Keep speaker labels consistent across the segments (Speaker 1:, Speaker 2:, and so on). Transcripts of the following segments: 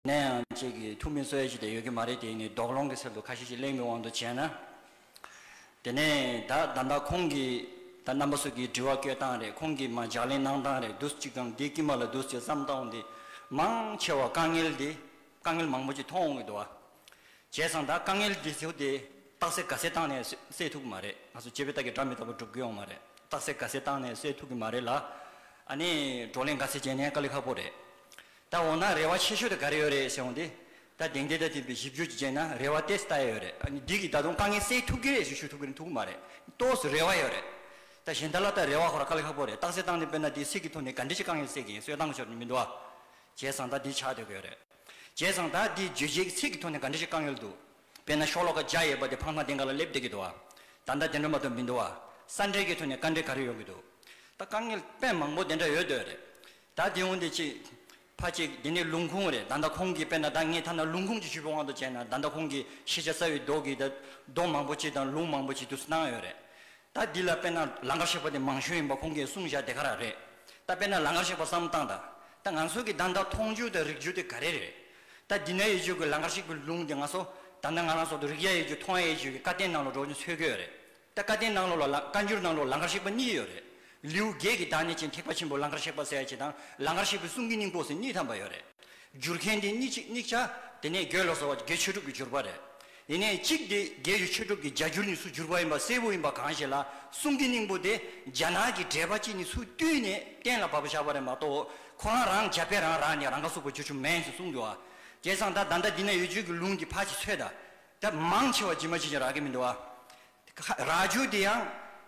Speaker 1: ནས་ཡང་གཅིག་གིས་ཐུགས་མི་གསོ་ཡ་ཅིག་དེ་ཡོད་ཀྱི་མ་རེད་དེ་ནི་དོགས་སློང་གི་ཚུལ་དུ་ཁ་ཤས་ཀྱིས་གླེང་བའི་དབང་དུ་བྱས་ན། དེ་ནས་ད་ད་ལྟ་ཁོང་གིས་ད་རྣམ་པ་སོ་གིས་དྲི་བ་བསྐྱོད་སྟངས་རེད་ཁོང་གིས་མ་ལྗགས་ལན་གནང་སྟངས་རེད་དུས་གཅིག་གམ་དེའི་དཀྱིལ་མ་ལ་དུས་གཅིག་བསམ་སྟངས་འདི་མང་ཆེ་བ་དཀའ་ངལ་འདི་དཀའ་ངལ་མང་པོ་ཅིག་མཐོང་འོང་གི་འདུག་བ། བྱས་ཙང་ད་དཀའ་ངལ་འདི་ཚོ་དེ་རྟགས་སེ་ག་སེ་བཏང་ནས་སེལ་ཐུབ་ཀྱི་མ་རེད་ང་ཚོ་སྤྱི་བའི་རྟགས་ཀྱི་སྒྲ་མི་རྟག་པ་སྒྲུབ་དགོས་ཡོང་མ་རེད་རྟགས་སེ་ག་སེ་བཏང་ནས་སེལ་ཐུབ་ཀྱི་མ་རེད་ལ། ཨ་ནི་བགྲོ་གླེང་ག་ཚད་བྱས་ནས་དཀའ་ལས་ཁག་པོ་རེད། ད་འོ་ན་རེ་བ་ཆེ་ཤོས་དེ་ག་རེ་ཡོད་རེད་ཟེར་འོང་དེ། ད་དེང་དེ་ལྟ་དེ་བི་ཞིབ་འཇུག་ཅིག་བྱས་ན་རེ་བ་ཏེས་ད་ཡ་ཡོད་རེད་འདི་གིས་ད་དུང་དཀའ་ངལ་སེལ་ཐུབ་ཀི་རེད་ཞུ་ཞུ་ཐུབ་ཀི་རེད་ཐུབ་ཀི་མ་རེད་ཏོས་སུ་རེ་བ་ཡོད་རེད། ད་གཞན་དག་ལ་ད་རེ་བ་ཧོ་ར་དཀའ་ལས་ཁག་པོ་རེད་རྟགས་གསལ་བཏང་ནས་དཔེར་ན་དེའི་ཚིག་གི་ཐོག་ནས་ག་འདྲི་ཞིག་དཀའ་ངལ་སེལ་གི་ཡིན་སོད་སྟངས་ཤོར་ནི་མི་འདུག་ཨ། བྱས་ཙང་ད་འདི་ཆགས་སྡོད་ཀི་ཡོད་རེད། བྱས་ཙང་ད་འདི་བརྗོད་བྱའི་གི་ཚིག་གི་ཐོག་ནས་ག་འདྲི་ཞིག་དཀའ་ངལ་འདུག་དཔེར་ན་ཤོག་ལོ་ཀ་བརྒྱ་ཡོད་པ་དེ་ཕངས་མ་དེང་ག་ལ་སླེབས་བསྡད་ཀི་འདུག་ཨ། ད་ད་དེ་འདྲ་མ་གཏོགས་མི་འདུག་ཨ། ས་འབྲེལ་གི་ཐོག་ནས་དཀའ་འབྲེལ་ག་རེ་ཡོང་གི་འདུག་ད་དཀའ་ངལ་དཔེ་མང་པོ་དེ་འདྲ་ཡོད་སྡོད་རེད། ད་དེ་འོང་དེ་ཅི། ཕ་གཅིག་དེ་ནི་ལུང་ཁུངས་རེད་ད་ལྟ་ཁོང་གིས་དཔེར་ན་ད་ངས་ཐ་ན་ལུང་ཁུངས་ཀྱི་ཤུལ་བུ་དབང་དུ་བྱས་ན་ད་ལྟ་ཁོང་གིས་ཤེས་བྱ་རྩ་བའི་མདོག་གིས་ད་མདོག་མང་པོ་ཅིག་དང་ལུང་མང་པོ་ཅིག་དུ་སྣང་ཡོད་རེད། ད་འདི་ལ་དཔེར་ན་ལང་ཀར་གཤེགས་པ་དེ་མང་ཤོས་ཡིན་པ་ཁོང་གིས་གསུང་བཞག་དེ་ག་རང་རེད། ད་དཔེར་ན་ལང་ཀར་གཤེགས་པ་བསམ་བཏང་ད། ད་ང་ཚོ་གིས་ད་ད་མཐོང་རྒྱུ་དང་རིག་རྒྱུ་དེ་ག་རེ་རེད། ད་འདི་ན་ཡོད་རྒྱུ་གི་ལང་ཀར་གཤེགས་པའི་ལུང་དེ་ང་ཚོ་ད་ནངས་ལངས་སོགས་དུ་རིག་ཡ་ཡོད་རྒྱུ་མཐོང་ཡ་ཡོད་རྒྱུ་གི་བཀའ་བསྟན་ནང་ལ་འགྲོ་རྒྱུ་འཚོལ་གི་ཡོད་རེད། ད་བཀའ་བསྟན་གནང་ལོག་ལ་བཀའ་འགྱུར་གནང་ལོག་ལང་ཀར་གཤེགས་པ་གཉིས་ཡོད་རེད། ལེའུ་བརྒྱད་ཀྱི་བདག་ཉིད་ཅན་ཐེག་པ་ཆེན་པོ་ལང་ཀར་གཤེགས་པ་གསལ་བྱེད་དང་ལང་ཀར་གཤེགས་པའི་གསུང་གི་སྙིང་པོ་ཟེར་གཉིས་ཐམས་པ་ཡོད་རེད། བསྒྱུར་མཁན་དེ་གཉིས་གཅིག་དམིགས་བྱ། དེ་ནས་དགེ་ལོག་ཟེར་བ་དགེ་ཆོས་གྲུབ་ཀྱི་བསྒྱུར་པ་རེད། ཡིན་ནའི་གཅིག་དེ་དགེ་བའི་ཆོས་གྲུབ་ཀྱི་བརྒྱ་འགྱུར་ནི་སུ་བསྒྱུར་པ་ཡིན་པ་གསལ་བོ་ཡིན་པ་གང་ཞིག་ལ་གསུང་གི་སྙིང་པོ་དེ་རྒྱ་ནག་གི་འགྲེལ་པ་གཅིག་ནི་སུ་བཏུས་ནས་གཏན་ལ་ཕབ་པ་ཆགས་པ་རེད་མ་གཏོགས་ཁོ་རང་རང་རྒྱ་དཔེ་རང་རག་ནས་རང་ཁ་སུག་པ་བསྒྱུར་ཆུ་མེན་ཞིག་གསུང་འདུག་ཨ། སྐལ་བཟང་ད་ད་ལྟ་འདི་ན་ཡོད་ཆོས་ཀྱི་ལུང་གི་ཕ་ཆེ་ཚོད་ད་ད་མང་ཆེ་བ་ཇི་མ་ཇི་བཞིན་རག་གི་མི་འདུག་ཨ། རག་རྒྱུ་དེ་ཡང་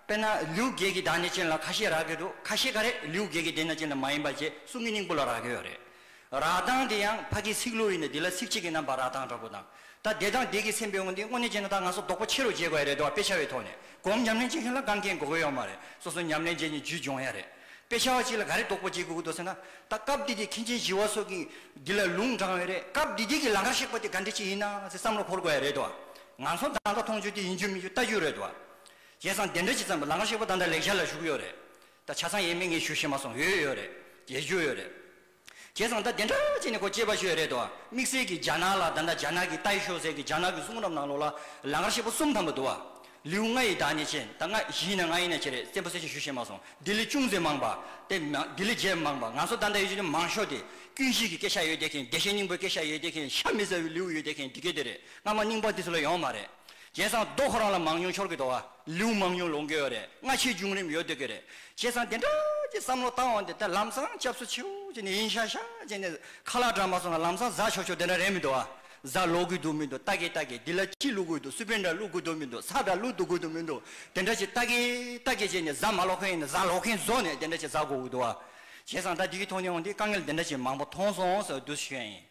Speaker 1: དཔེར་ན་ལིའུ་རྒྱལ་གྱི་དག་ནས་ཅན་ལ་ཁ་ཤས་རག་གི་འདུག་ཁ་ཤས་ག་རེ་ལིའུ་རྒྱལ་གྱི་དེ་ན་ཅན་ལ་མ་ཡིན་པ་བཅས་གསུང་གི་སྙིང་པོ་ལ་རག་གི་ཡོད་རེད། རག་སྟངས་དེ་ཡང་ཕ་གི་ཚིག་ལོ་ཡིན་ནི་དེ་ལ་ཚིག་གཅིག་གི་རྣམ་པར་རག་སྟངས་འདྲ་པོ་དང། ད་བདེ་དང་བདེ་གི་སེམས་པའི་དངོས་འདི་དངོས་གནས་ཅན་ན་ད་ང་ཚོ་དོགས་པ་ཆེ་རུ་འགྱེལ་དགོས་ཡ་རེད་འདུག་ཨ་དཔེ་ཆ་བའི་ཐོག་ནས་སྒོམ་ཉམས་ལེན་བྱེད་མཁན་ལ་དགའ་མཁན་དགོས་གི་ཡོད་མ་རེད་སོ་སོ་ཉམས་ལེན་བྱས་ནས་རྒྱུད་སྦྱོང་ཡ་རེད། དཔེ་ཆ་བ་གཅིག་ལ་ག་རེ་རྡོག་པོ་རྗེས་སྒུག་གི་འདུག་ཟེར་ན། ད་སྐབས་འདི་དུས་མཁན་ཆེན་བཞི་བ་སོགས་ཀྱིས་འདི་ལ་ལུང་དྲངས་འོས་རེད་སྐབས་འདི་དུས་ཀྱི་ལང་ཀར་གཤེགས་པ་དེ་ག་འདྲི་ཅི་ཡིན་ན་ཟེར་བསམ་བློ་འཁོར་དགོས་ཡ་རེད་དོ། ང་ཚོ་མདའ་མདའ་མཐོང་ཆོས་དེ་ཡིན་རྒྱུ་མིན་རྒྱུ་ལྟ་རྒྱུ་རེད་དོ། བྱས་ཙང་དེ་འདྲ་ཅི་ཙམ་ལང་ཀར་གཤེགས་པ་ད་ལྟ་ལེགས་ཆ་ལ་བཞུགས་ཡོད་རེད། ད་ཆ་ཚང་ཡས་མས་ངས་ཞུ་ཤེས་མ་སོང་ཡོད་ཡོད་རེད། ཡས་རྒྱུ་ཡོད་རེད། བྱས་ཙང་ད་དེ་འདྲ་བྱས་ནས་ཁོ་སྐྱེས་པ་ཤོས་རེད་དོ། དམིགས་བསལ་གྱི་རྒྱ་ནག་ལ་ད་ནག་རྒྱ་ནག་གི་ཏའི་ཤོག་ཟེར་གི་རྒྱ་ནག་གི་གསུང་རབ་ནང་ལོག་ལ་ལ་ངར་ཤེད་པོ་གསུམ་ཐམ་པོ་འདུག་བ། ལེའུ་ལྔ་ཡི་དག་ནས་བྱས་ད་ལྔ་བཞི་ཡིན་ན་ལྔ་ཡིན་ན་བྱས་རེད་བཙན་པོ་གསལ་བཤད་ཞུ་ཤེས་མ་སོང་འདི་ལས་ཅུང་ཟད་མང་བ། དེ་མ་འདི་ལས་རྒྱས་མང་བ་ང་ཚོ་ད་འདྲ་ཡོད་ཅེས་ནི་མང་ཤོས་དེ་ཀུན་གཞིས་ཀྱི་སྐད་ཤ་ཡོད་དེ་མཁན་བདེ་གཤེགས་སྙིང་པོའི་སྐད་ཤ་ཡོད་དེ་མཁན་ཤ་མི་ཟ་བའི་ལེའུ་ཡོད་དེ་མཁན་འདི་སྐད་དེ་རེད་སྔ་མ་རྙིང་པ་འདི་ཚོ་ལ་ཡོང་མ་རེད། བྱས་ཙང་རྡོ་ཁོ་རང་ལ་མང་ཉུང་འཆོར་གི་འདུག་ཨ། ལེའུ་མང་ཉུང་ལོངས་དགོས་ཡོད་རེད་སྔ་ཕྱིའི་བྱུང་རིམ་ཡོད་སྡོད་ཀྱི་རེད། བྱས་ཙང་དེ་འདྲ་ཀྱི་བསམ་བློ་བཏང་བ་འདི་ད་ལམ་སང་སྐྱབས་སུ་མཆིའོ་ཅེས་ནས་ཡིན་ཤག་ཤག་ཅེས་ནས་ཁ་ལག་བཀྲམ་མ་སོང་ན་ལམ་སང་བཟའ་ཆོག་ཆོག་དེ་འདྲ་རེད་མི་འདུག་ཨ། བཟའ་ལོག་དགོས་འདུག་མི་འདུག་རྟ་གེ་རྟ་གེ་འདི་ལ་ཅི་བླུག་དགོས་འདུག་སུ་པན་འདྲ་བླུག་དགོས་འདུག་མི་འདུག་ས་འདྲ་བླུག་འདུག་དགོས་འདུག་མི་འདུག་དེ་འདྲ་ཅིག་རྟ་གེ་རྟ་གེ་ཅེས་ནས་བཟའ་མ་ལོག་མཁན་ཡིན་ན་བཟའ་ལོག་མཁན་བཟོ་ནས་དེ་འདྲ་ཅིག་བཟའ་དགོས་འདུག་ཨ། བྱས་ཙང་ད་འདི་གི་ཐོག་ནས་འོང་དུས་དཀའ་ངལ་འདི་འདྲ་ཅིག་མང་པོ་མཐོང་སོང་ཟེར་བ་འདུག་ཤེས་ཡོད་ཡིན།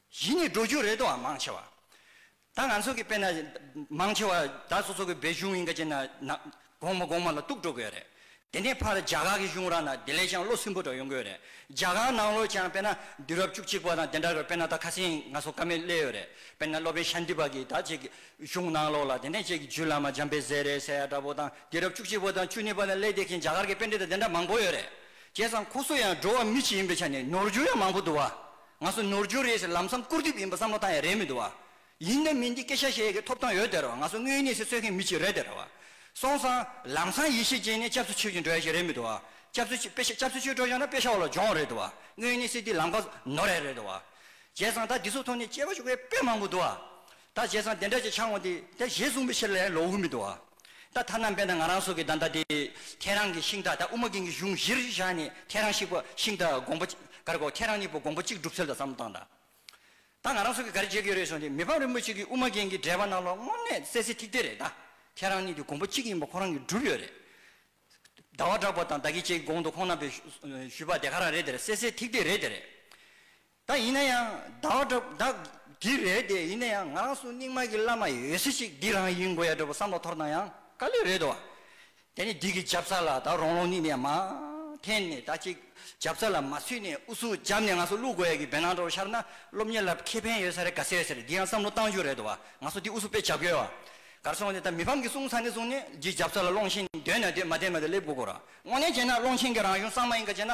Speaker 1: གཞི་ནས་འགྲོ་རྒྱུ་རེད་དོ་ཨ་མང་ཆེ་བ། ད་ང་ཚོ་གི་དཔེ་ན་མང་ཆེ་བ་ད་སོ་སོ་གི་བའི་གཞུང་ཡིན་ག་ཅེ་ན་ན་གོང་མ་གོང་མ་ལ་གཏུགས་འགྲོ་གོས་རེད། དེ་ནས་ཕར་རྒྱ་གར་གི་གཞུང་ར་ན་དེ་ལས་ཀྱང་བློ་སིམ་པོ་འདྲ་ཡོང་གོས་རེད། རྒྱ་གར་ནང་ལོ་ཀྱང་དཔེ་ན་དུས་རབས་བཅུ་གཅིག་པ་དང་དེ་འདྲ་གི་དཔེ་ན་ད་ཁ་སེང་ང་སོ་ཀ་མེད་སླེ་ཡོད་རེད། དཔེ་ན་སློབ་དཔོན་ཤཱནྟི་པ་གིས་ད་ཅིག་གཞུང་ནང་ལོ་ལ་དེ་ནས་ཅིག་རྒྱུད་བླ་མ་འཇམ་དཔལ་ཟས་རེད་ཟས་ཡ་འདྲ་པོ་དང་དུས་རབས་བཅུ་གཅིག་པ་དང་བཅུ་གཉིས་པ་ལ་སླེ་དེ་གིན་རྒྱ་གར་གི་དཔེ་འདི་དང་དེ་འདྲ་མང་པོ་ཡོད་རེད། བྱས་ཙང་ཁོ་སོ་ཡང་འགྲོ་བ་མི་གཅིག་ཡིན་པའི་ཆ་ནས་ནོར་རྒྱུ་ཡང་མང་པོ་འདུག་བ། ང་ཚོ་ནོར་འཁྲུལ་རེད་ཟེར་ལམ་སང་སྐུར་དེབ་ཡིན་པ་བསམ་བློ་བཏང་ཡ་རེད་མི་འདུག་བ། ཡིན་ནམ་མིན་འདི་སྐད་ཆ་བཤད་ཡ་གི་ཐོབ་ཐང་ཡོད་དེ་རོ་ང་ཚོ་དངོས་གནས་སེ་གསོད་མཁན་མི་གཅིག་རེད་དེ་ར་བ། སོང་ཙང་ལམ་སང་ཡེ་ཤེས་ཅན་ནས་སྐྱབས་སུ་མཆི་བཞིན་འགྲོ་ཡ་ཞིག་རེད་མི་འདུག་བ། སྐྱབས་སུ་མཆི་སྐྱབས་སུ་མཆི་འགྲོ་ཞོག་ན་དཔེ་ཆ་བ་ལ་སྦྱོང་རེད་དུ་བ། དངོས་གནས་སེ་འདི་ལམ་ཁ་ནོར་ཡ་རེད་དུ་བ། བྱས་ཙང་ད་འདི་ཚོ་ཐོག་ནས་སྐྱེ་བ་ཞུགས་པའི་དཔེ་མང་པོ་འདུག་བ། ད་བྱས་ཙང་དེ་འདྲ་ཅིག་འཆང་ངོ་དེ་དེ་ཞེས་གསུངས་པའི་ཕྱིར་ལས་ལོག་འུར་མི་འདུག་ཨ། ད་ཐ་ན་འབེན་དང་ང་རང་སོགས་ཀྱིས་ད་ལྟ་དེ་ཁྱེད་རང་གི་ཤིང་རྟ་དང་དབུ་མ་རྒན་གྱི་གཞུང་གཞིར་བཞག་ནས་ཁྱེད་རང་ཤིག་པ་ཤིང་རྟ་དགོངས་པ་གར་གོ་ཁྱེད་རང་གཉིས་པོ་དགོངས་པ་གཅིག་སྒྲུབ་ཚུལ་ལ་བསམ་བློ་བཏང་དང། ད་ང་རང་སོགས་ཀྱིས་ག་རེ་བྱེད་དགོས་རེད་གསུངས་དེ་མི་ཕམ་རིན་པོ་ཆེ་གིས་དབུ་མ་རྒན་གྱི་འགྲེལ་པ་རྣམས་ལ་དངོས་གནས་གསལ་གསལ་ཐིག་ཐིག་རེད་ད་ཁྱེད་རང་གཉིས་ཀྱི་དགོངས་པ་གཅིག་ཡིན་པ་ཁོ་རང་གིས་སྒྲུབ་ཡོད་རེད། ཟླ་བ་གྲགས་པ་དང་ད་ཀྱི་བཅས་ཀྱི་དགོངས་དོ་ཁོང་རྣམ་པས་ཞུས་པ་དེ་ག་རང་རེད་དེ་རེད་གསལ་གསལ་ཐིག་ཐིག་རེད་དེ་རེད། ད་ཡིན་ན་ཡང་ཟླ་བ་འདྲ་བོ་འདི་རེད་དེ་ཡིན་ན་ཡང་ང་རང་སུ་རྙིང་མ་གི་བླ་མ་ཡོད་སྲིད་ཅིག་འདི་རང་ཡིན་དགོས་ཡ་འདྲ་བོ་བསམ་བློ་ཐོར་ན་ཡང་དཀའ་ལས་རེད་དོ། དེ་ནས་འདི་གི་རྒྱབ་རྩ་ལ་ད་རོང་རོང་ནི་ནས་མ་འཐེན་ནས་ད་ཅིག་རྒྱབ་རྩ་ལ་མ་ཚུད་ནས་ཨུ་ཚུགས་རྒྱབ་ནས་ང་སུ་བླུག་དགོས་ཡ་གི་བེ་ནང་འདྲ་བོ་ཤར་ན་སློབ་གཉེར་ལ་ཁེ་ཕན་ཡོད་ས་རེད་ག་ཚད་ཟེར་འདི་ཡང་བསམ་བློ་གཏང་རྒྱུ་རེད་དོ་ང་སུ་འདི་ཨུ་ཚུགས་དཔེ་བྱབ་ཡོད་གར་སོང་ནས་ད་མི་ཕམ་གི་གསུང་ཚ་ནས་བཟུང་ནས་འདི་རྒྱབ་རྩ་ལ་སློང་ཆེན་འདོད་ན་འདོད་མ་འདོད་མ་འདོད་སླེབ་དགོས་དགོས་ར་དངོས་གནས་བྱས་ན་སློང་ཆེན་གི་རང་གཞུང་གསང་མ་ཡིན་ག་བྱས་ན།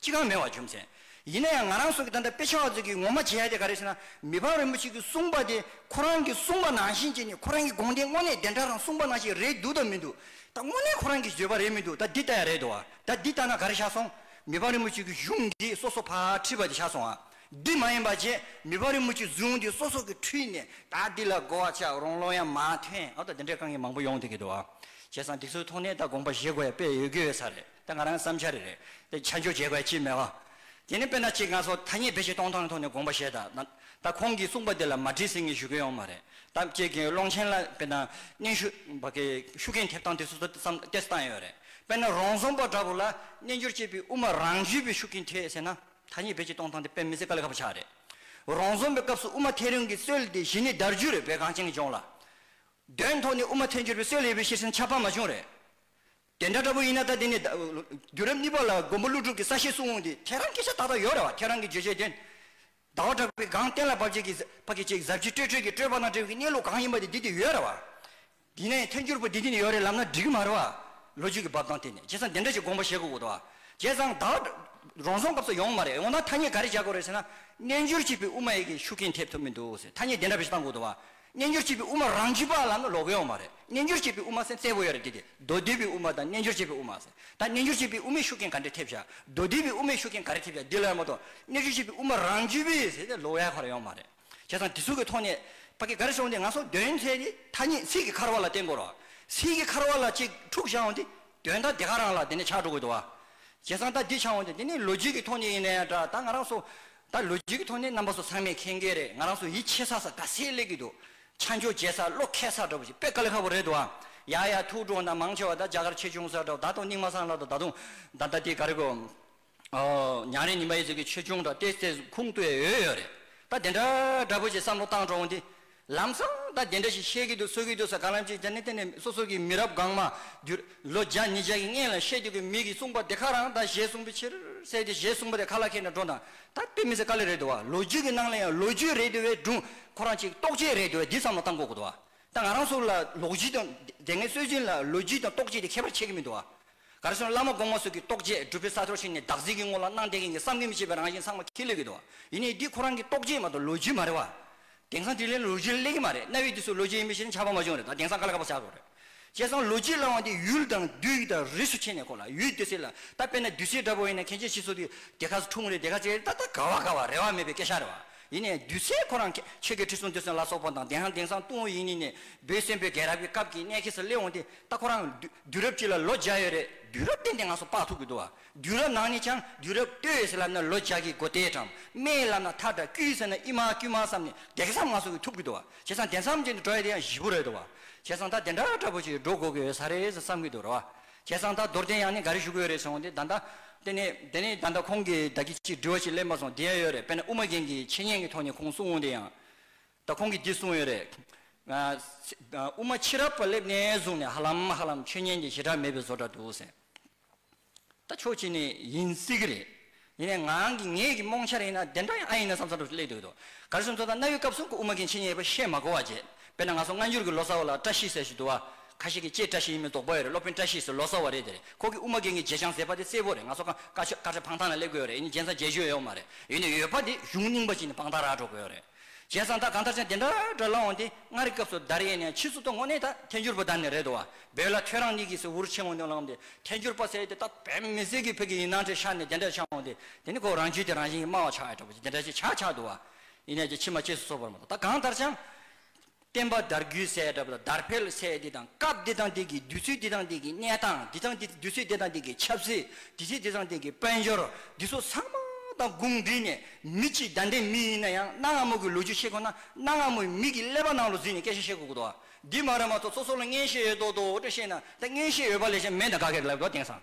Speaker 1: ཅི་གང་མེད་བར་འཇོམས་མཛད། ཡིན་ན་ཡང་ང་རང་སོགས་ཀྱིས་ད་ལྟ་དཔེ་ཆ་བ་ཚོས་ཀྱིས་ངོ་མ་བྱེད་ཡ་དེ་ག་རེ་ཟེར་ན་མི་ཕམ་རིན་པོ་ཆེ་གིས་གསུངས་པ་དེ་ཁོ་རང་གིས་གསུངས་པ་ནང་བཞིན་བྱས་ནས་ཁོ་རང་གི་དགོངས་དེ་དངོས་གནས་བདེན་གྲགས་དང་གསུངས་པ་ནང་བཞིན་རེད་འདུག་དང་མི་འདུག་ད་དངོས་གནས་ཁོ་རང་གིས་བརྗོད་པ་རེད་མི་འདུག་ད་འདི་ལྟ་ཡ་རེད་འདུག་བ་ད་འདི་ལྟ་ན་ག་རེ་ཆགས་སོང། མི་ཕམ་རིན་པོ་ཆེ་གིས་གཞུང་འདི་སོ་སོ་ཕར་ཁྲིད་པ་དེ་ཆགས་སོང་བ། འདི་མ་ཡིན་པ་རྗེས་མི་ཕམ་རིན་པོ་ཆེས་གཟུངས་འདི་སོ་སོ་གིས་ཁྲིད་ནས་ད་འདི་ལ་གོ་བ་ཆགས་རུང་བློ་ཡང་མ་ཐོན་ཨ་ད་འདི་འདྲའི་དཀའ་ངལ་མང་པོ་ཡོང་ཐུག་གི་འདུག་བ། བྱས་ཙང་འདི་ཚོའི་ཐོག་ནས་ད་དགོངས་པ་བཞེས་དགོས་ཡ་དཔེ་ཡོད་དགོས་ཡོད་ས་རེད། དེ་ང་རང་བསམ་འཆར་རེད། དེ་ཆ་འཇོག་བྱེད་དགོས་ཀྱི་མེད། དེ་ནི་དཔེར་ན་ཅིག་ང་ཚོ་ཐ་སྙད་བེད་སྤྱད་གཏོང་སྟངས་ཀྱི་ཐོག་ནས་དགོངས་པ་བཞེས་དང། ད་ཁོང་གིས་གསུངས་པ་དེ་ལ་མ་དྲིས་ཟིན་གྱི་ཞུ་མཁན་ཡོང་མ་རེད་དམ་ཅེས་དགེ་འོས་ཀློང་ཆེན་ལ་དཔེར་ན་སྙན་ཞུ། བ་གའི་ཤུགས་རྐྱེན་ཐེབས་སྟངས་དེ་སོ་སོ་བསམ་གཏན་བཏང་ཡོད་རེད། དཔེར་ན་རོང་ཟོམ་པ་འདྲ་བོ་ལ་སྨྱན་སྦྱོར་བྱེད་པའི་དབུ་མ་རང་བརྒྱུད་པའི་ཤུགས་རྐྱེན་ཐེབས་ཟེར་ན་ཐ་སྙད་བེད་སྤྱད་གཏོང་སྟངས་དེ་དཔེ་མི་སྲིད་ཀ་ལས་ཁ་བ་ཆགས་རེད། རོང་ཟོམ་པའི་སྐབས་སུ་དབུ་མ་ཐལ་རིང་གི་སྲོལ་དེ་གཞི་ནས་དར་རྒྱུ་རེད་བོད་གངས་ཅན་གྱི་ལྗོངས་ལ། དོན་ཐོག་ནས་དབུ་མ་ཐལ་འགྱུར་བའི་སྲོལ་ཡོད་པའི་ཕྱིར་ཟིན་ཆ་ཕ་མ་ཆུང་རེད། དེ་འདྲ་འདྲ་པོ་ཡིན་ན་ད་དེ་ནས་དུས་རབས་གཉིས་པ་ལ་མགོན་པོ་ཀླུ་སྒྲུབ་ཀྱི་ས་བཤད་སྲུང་འོང་དུས་ཁྱེད་རང་གི་ཤ་ཏག་ཏག་ཡོད་རེད་བ་ཁྱེད་རང་གི་བརྗོད་བྱའི་དོན། ཟླ་བ་གྲགས་པའི་སྒང་གཏན་ལ་བབས་རྗེས་ཀྱི་ཀྱི་ཅིག་གཟབ་ཀྱི་སྤྲོས་བྲལ་གྱི་སྤྲོས་པ་དང་བྲལ་བའི་གནས་ལུགས་གང་ཡིན་པ་དེ་འདི་དེ་ཡོད་རེད་བ། དེ་ནས་ཐལ་འགྱུར་པོ་འདི་འདི་ནས་ཡོད་རེད་ལབ་ན་འགྲིག་གི་མ་རེད་བ། ལོ་རྒྱུས་ཀྱི་འབབ་སྟངས་དེ་ནས་བྱས་ཙང་འདི་འདྲ་ཞིག་དགོངས་པ་བཞེས་དགོས་ཀྱི་འདུག་བ། བྱས་ཙང་ད་བར་རང་སྲོང་སྐབས་སུ་ཡོང་གི་མ་རེད་འོ་ན་ཐ་སྙད་ག་རེ་བྱ་དགོས་རེད་ཟེར་ན། རྣལ་འབྱོར་གཅིག་པའི་དབུ་མ་ཡི་གེ་ཤུགས་རྐྱེན་ཐེབས་ཐུབ་མི་འདུག་ཟེར་ཐ་སྙད་འདི་འདྲ་བཞེས་བཏང་དགོས་འདུག་བ། རྣལ་འབྱོར་བྱེད་པའི་དབུ་མ་རང་རྒྱུད་པ་ལ་ནི་ལོག་གཡོ་བ་མ་རེད་རྣལ་འབྱོར་བྱེད་པའི་དབུ་མ་སེམས་གསལ་བོ་ཡོད་རེད་དེ་དེ་མདོ་སྡེ་པའི་དབུ་མ་དང་རྣལ་འབྱོར་བྱེད་པའི་དབུ་མ་ཟེར་ད་རྣལ་འབྱོར་བྱེད་པའི་དབུ་མའི་ཤུགས་རྐྱེན་ག་འདྲས་ཐེབས་བྱ་མདོ་སྡེ་པའི་དབུ་མའི་ཤུགས་རྐྱེན་ག་རེ་ཐེབས་བྱ་འདི་ལ་ཡང་མ་གཏོགས་རྣལ་འབྱོར་བྱེད་པའི་དབུ་མ་རང་རྒྱུད་པས་ཟེར་ཏེ་ལོག་ཡ་ག་རེ་ཡོང་མ་རེད་བྱས་ཙང་དེ་ཚུལ་གྱི་ཐོག་ནས་པ་ཀི་ག་རེ་བྱུང་སྟེ་ང་སོགས་དོན་དེ་ཐད་ནས་ཐ་སྙད་ཚིག་གི་འཁར་བ་ལ་བརྟེན་དགོས་རོགས་ཚིག་གི་འཁར་བ་ལ་གཅིག་འཁྲུག་བྱ་འོང་དེ་དོན་དག་དེ་ག་རང་ལ་དེ་ནས་ཆགས་འགྲོ་དགོས་འདུག་བ། བྱས་ཙང་ད་འདི་ཆགས་འོང་དེ་འདི་ནི་ལོ་རྒྱུས་ཀྱི་ཐོག་ནས་ཡིན་ན་ཡང་འདྲ་ད་ང་རང་སོགས་ད་ལོ་རྒྱུས་ཀྱི་ཐོག་ནས་རྣམ་པ་སོགས་ཚང་མས་མཁྱེན་གྱི་རེད་ང་རང་སོ་ཡིད་ཆེས་ས་ས་དགའ་སེ་ལེགས་ཀྱི་འདུག་ཆ་འཇོག་བྱེད་ས་བློ་ཁེལ་ས་འདྲ་བོ་ཞིག་དཔེ་ཀ་ལེ་ཁ་བོ་རེད་འདུག་ཨ། ཡ་ཡ་ཐུགས་སྤྲོ་ན་མང་ཆེ་བ་ད་རྒྱ་གར་ཆེ་ཆུང་ས་འདྲ་བོ་ད་དུང་སྙིང་མ་སངས་ལ་ད་ད་དུང་ད་ད་དེ་ག་རེ་གོ། ཉང་རེ་ཉིན་པ་ཡི་ཟེར་གྱི་ཆེ་ཆུང་འདྲ་སྟེ་སེ་ཁུང་ཏུ་ཡོད་ཡོད་རེད་ད་དེ་འདྲ་འདྲ་བོ་ཞིག་བསམ་བློ་བཏང་འགྲོ་འོང་དེ། ལམ་སང་ད་དེ་འདྲ་ཞིག་བཤད་ཀྱི་འདུག་གསོལ་གྱི་འདུག་ས་ག་ལམ་ཅིག་ཅར་ནི་དེ་ནས་སོ་སོ་གྱི་མི་རབས་གང་མ་བསྒྱུར། ལོ་བརྒྱ་ཉིས་བརྒྱ་ཀྱི་སྔན་ལ་བཤད་རྒྱུ་གི་མིག་གིས་གསུངས་པ་དེ་ཁ་རང་ད་གཞས་གསུངས་པའི་ཕྱིར་གསལ་ཏེ་གཞས་གསུངས་པ་དེ་ཁ་ལ་ཁད་ནས་འགྲོ་དང་ད་དཔེ་མི་ཟེར་དཀའ་ལས་རེད་འདུག་བ་ལོ་རྒྱུས་ཀྱི་ནང་ལ་ཡང་ལོ་རྒྱུས་རེད་འདུག་བའི་སྒྲུང་ཁོ་རང་ཅིག་རྟོགས་བྱེད་རེད་འདུག་བ་འདི་བསམ་ལ་བཏང་གོ་དགོས་འདུག་བ་ད་ང་རང་སུ་ལ་ལོག་རྒྱུས་དང་དེ་སྔའི་སྲོལ་རྒྱུན་ལ་ལོ་རྒྱུས་དང་རྟོགས་བྱེད་དེ་ཁྱད་པར་ཆེ་གི་མི་འདུག་བ་གར་སོང་བླ་མ་དགོངས་མ་སོགས་ཀྱིས་རྟོགས་རྗེས་སྒྲུབ་པའི་ས་ཕྱོགས་ཕྱིན་ནས་བདག་གཟིགས་ཀྱི་ངོ་ལ་སྣང་བསྟན་མཁན་གྱི་བསམ་གྱིས་མི་ཁྱབ་པའི་རང་བཞིན་ཚང་མ་ཁས་ལེན་གྱི་འདུག་ཡིན་ནའི་འདི་ཁོ་རང་གི་རྟོགས་རྗེས་མ་གཏོགས་ལོ་རྒྱུས་མ་རེད་བ། དེང་སང་དྲིས་ལན་ལོ་རྒྱུས་ལ་སླེབས་ཀྱི་མ་རེད་གནའ་བོའི་དུས་སུ་ལོ་རྒྱུས་ཡིན་པའི་ཕྱིར་ན་ཆགས་པ་མ་བྱུང་རེད་ད་དེང་སང་ཀ་ལ་ཀ་པ་ཆགས་ཐུབ་རེད། བྱས་ཙང་ལོ་རྒྱུས་བསླང་བ་འདི་ཡུལ་དང་དུས་ཡིག་དང་རིས་སུ་ཕྱེ་ནས་གོ་ལ་ཡུལ་དེ་སེལ་ལ་ད་དཔེར་ན་དུས་སེལ་འདྲ་པོ་ཡིན་ན་མཁན་ཆེན་ཤི་སོགས་དུས་དེ་ག་ས་འཁྲུངས་རེད་དེ་ག་ས་ཡིན་རེད་ད་ལྟ་ག་བ་ག་བ་རེ་བ་མེད་པའི་སྐད་ཆ་རེད་བ། ཡིན་ནས་བདུད་རྩི་ཁོ་རང་ཆོས་ཀྱི་ཁྲི་སྲོང་བདུད་སྲིན་ལ་སོགས་པ་དང་དེའང་དེང་སང་ཏུང་ཧོང་ཡིག་རྙིང་ནས་བོད་བཙན་པོའི་རྒྱལ་རབས་ཀྱི་སྐབས་ཀྱི་གནས་ཁེལ་སར་སླེབས་འོང་སྟེ་ད་ཁོ་རང་དུས་རབས་གཅིག་ལ་ལོ་བརྒྱ་ཡོད་རེད། དུས་རབས་བསྟན་ཏེ་ང་སོ་དཔག་ཐུབ་ཀྱི་འདུག་བ། དུས་རབས་ནང་ནས་ཀྱང་དུས་རབས་སྟོད་ཡོད་ཟེར་ལབ་ན་ལོ་བརྒྱ་གྱི་འགོ་དེས་གྲང་སྨེ་ལབ་ན་ཐག་འདྲ་དཀྱུས་ཟེར་ན་དབྱི་མ་དཀྱུས་མ་བསམ་ནས་བརྒྱ་ཁེ་སམ་ང་སོ་གི་ཐུབ་ཀྱི་འདུག་བ། བྱས་ཙང་དེ་མཚམས་ཀྱི་འགྲོ་ཡ་དེ་ཡང་བཞི་པོ་རེད་འདུག་བ། བྱས་ཙང་ད་དེ་འདྲ་འདྲ་པོ་ཞིག་འགྲོ་དགོས་ཀྱི་ཡོད་ས་རེད་ཟེར་བསམ་གྱི་འདུག་ར་བ། ཁྱེད་ཚང་ད་རྡོར་གདན་ཡང་ནི་ག་རེ་བཞུགས་ཡོད་རེད་ཟེར་འོང་དེ་ད་ད། དེ་ནི་དེ་ནི་ད་ད་ཁོང་གིས་ད་ཁྱི་གཅིག་འདྲི་བ་ཞིག་གླེང་པ་སོང་དེ་ཡང་ཡོད་རེད་དཔེར་ན་དབུ་མ་རྒན་གྱི་འཆད་ཉན་གྱི་ཐོག་ནས་ཁོང་གསུང་འོང་དེ་ཡང། ད་ཁོང་གིས་འདི་གསུང་ཡོད་རེད། དབུ་མ་ཕྱི་རབས་པ་སླེབས་ནས་བཟུང་ནས་ཧ་ལམ་ཧ་ལམ་ཆོས་ཉན་གྱི་ཞེ་དྲག་མེད་པའི་བཟོ་འདྲ་འདུག་ཟེར། ད་ཕྱོགས་གཅིག་ནས་ཡིན་སྲིད་གི་རེད། ཡིན་ནའི་ངང་གིས་ངེད་ཀྱི་རྨོངས་འཆར་ཡིན་ན་དེ་འདྲ་ཡང་ཨ་ཡིན་ན་བསམ་བསམ་འགྲོ་བཞིན་སླེབས་འདུག་གདོད། གར་སོན་ཚོ་དང་གནའ་བོའི་སྐབས་སུ་དབུ་མ་མཁན་ཆེན་ཡེ་པོ་ཤེས་མ་གོ་བ་བརྗེད། དཔེར་ན་ང་ཚོ་སྔ་འགྱུར་གྱི་ལོ་ཙཱ་བ་ལ་བཀྲ་ཤིས་ཟེར་ཞིག་འདུག་བ། ཁ་ཤས་ཀྱིས་ཀྱེ་བཀྲ་ཤིས་ཡིན་མིན་དོགས་པ་ཡོད་རེད་སློབ་དཔོན་བཀྲ་ཤིས་ཟེར་ལོ་ཙཱ་བ་རེད་དེ་རེད་ཁོ་གིས་དབུ་མ་མཁན་གྱི་བརྗེད་བྱང་ཟེར་པ་དེ་གསལ་པོ་རེད་ང་ཚོ་ཁང་ཁ་ཆོས་ཁ་ཆ་འཕང་ཐང་ལ་སླེབས་དགོས་ཡོད་རེད་ཡིན་ན་རྒྱན་ས་བརྒྱད་བཞུ་ཡོད་ཡོད་མ་རེད་ཡོད་ན་ཡོད་པ་དེ་གཞུང་རྙིང་པ་གཅིག་ནས་དཔང་རྟགས་རག་འགྲོ་དགོས་ཡོད་རེད། བྱས་ཙང་ད་གང་ལྟར་ཅང་དེ་འདྲ་འདྲ་ལ་འོང་སྟེ་མངའ་རིས་སྐབས་སུ་དར་ཡས་ནས་ཕྱིས་སུ་ཏོ་ངོ་ནས་ད་ཐལ་འགྱུར་པོ་དར་ནི་རེད་དོ། བོད་ལ་ཁྱོད་རང་གཉིས་ཀྱིས་སུ་འུར་ཆེན་མོ་ནས་བླངས་ཏེ་ཐལ་འགྱུར་པ་ཟེར་ཡས་དེ་ད་བོད་མི་སེར་གྱིས་བོད་ཀྱི་ཡིན་སྣང་ཁྲིད་ཤར་ནས་དེ་འདྲ་ཆགས་འོང་སྟེ་དེ་ནི་ཁོ་རང་རྒྱུད་དེ་རང་བཞིན་གྱིས་སྨྲ་བ་ཆགས་ཡས་འདྲ་པོ་ཅིག་དེ་འདྲ་ཅིག་ཆགས་ཆགས་འདུག་བ། ཡིན་ནས་ཀྱི་ཕྱི་མ་གཅེས་སུ་གསོ་བར་མ་གཏོགས་ད་གང་ལྟར་ཅང། བསྟན་པ་དར་རྒུད་སའི་གྲབས་དང་དར་འཕེལ་སའི་དེ་དང་སྐབས་དེ་དང་དེ་གི་དུས་ཚོད་དེ་དང་དེ་གི་གནས་སྟངས་དེ་དང་དུས་ཚོད་དེ་དང་དེ་གི་ཆབ་སྲིད་དུས་ཚོད་དེ་དང་དེ་གི་དཔལ་འབྱོར་འདི་ཚོ་ཚང་མ་དང་དགུང་འདུས་ནས་མི་གཅིག་བདའ་འདྲེ་མི་ཡིན་ན་ཡང་གནའ་སྔ་མོ་གི་ལོ་རྒྱུས་ཤེས་དགོས་ན་གནའ་སྔ་མོའི་མི་གི་ཀླད་པ་ནང་ལོ་འཛིན་ནས་སྐད་ཆ་ཤེས་དགོས་དགོས་འདུག་འདི་མ་རེད་མ་ཚོགས་སོ་སོ་ལ་མངན་ཤེས་ཡོད་དོ་དོ་ཏོ་བཤད་ན་ད་མངན་ཤེས་ཡོད་པ་ལས་ཅན་མེད་ད་ག་གེར་ལབ་དགོས་དེང་སང་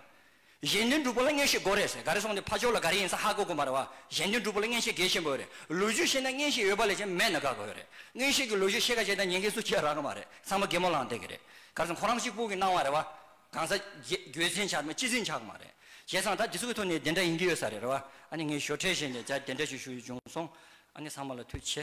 Speaker 1: གཞན་དོན་སྒྲུབ་པོ་ལ་བརྔན་ཤེས་དགོས་རེད་ཟེར་ག་རེ་སོང་དེ་ཕ་ཅོག་ལ་ག་རེ་ཡིན་ས་ཧ་གོ་གོ་མ་རེད་བ། གཞན་དོན་སྒྲུབ་པོ་ལ་བརྔན་ཤེས་གལ་ཆེན་པོ་ཡོད་རེད་ལོས་རྒྱུས་ཤེས་ན་བརྔན་ཤེས་ཡོད་པ་ལས་ཀྱང་མེད་ན་དགའ་དགོས་རེད་བརྔན་ཤེས་ཀྱི་ལོས་རྒྱུས་ཤེས་ག་བྱས་ད་ཉན་གི་སུ་ཁྱེད་རག་གི་མ་རེད་ཚང་མ་རྒད་མོ་ལང་སྟེ་གི་རེད་ག་རེ་སོང་ཁོ་རང་གཅིག་པུ་གི་སྣང་བ་རེད་བ། གང་ཟག་རྒྱུད་འཛིན་ཆག་མེད་སྤྱི་འཛིན་ཆག་གི་མ་རེད་བྱས་ཙང་ད་འདི་ཚོ་གི་ཐོག་ནས་དེ་འདྲ་ཡིན་གི་ཡོད་ས་རེད་བ་ཨ་ནི་ངས་ཞོར་ཁྲལ་བྱས་ནས་ཇ་དེ་འདྲ་ཞིག་ཞུ་ཡི་བྱུང་སོང་ཨ་ནི་ཚང་མ་ལ་མཐུ་ཆེ།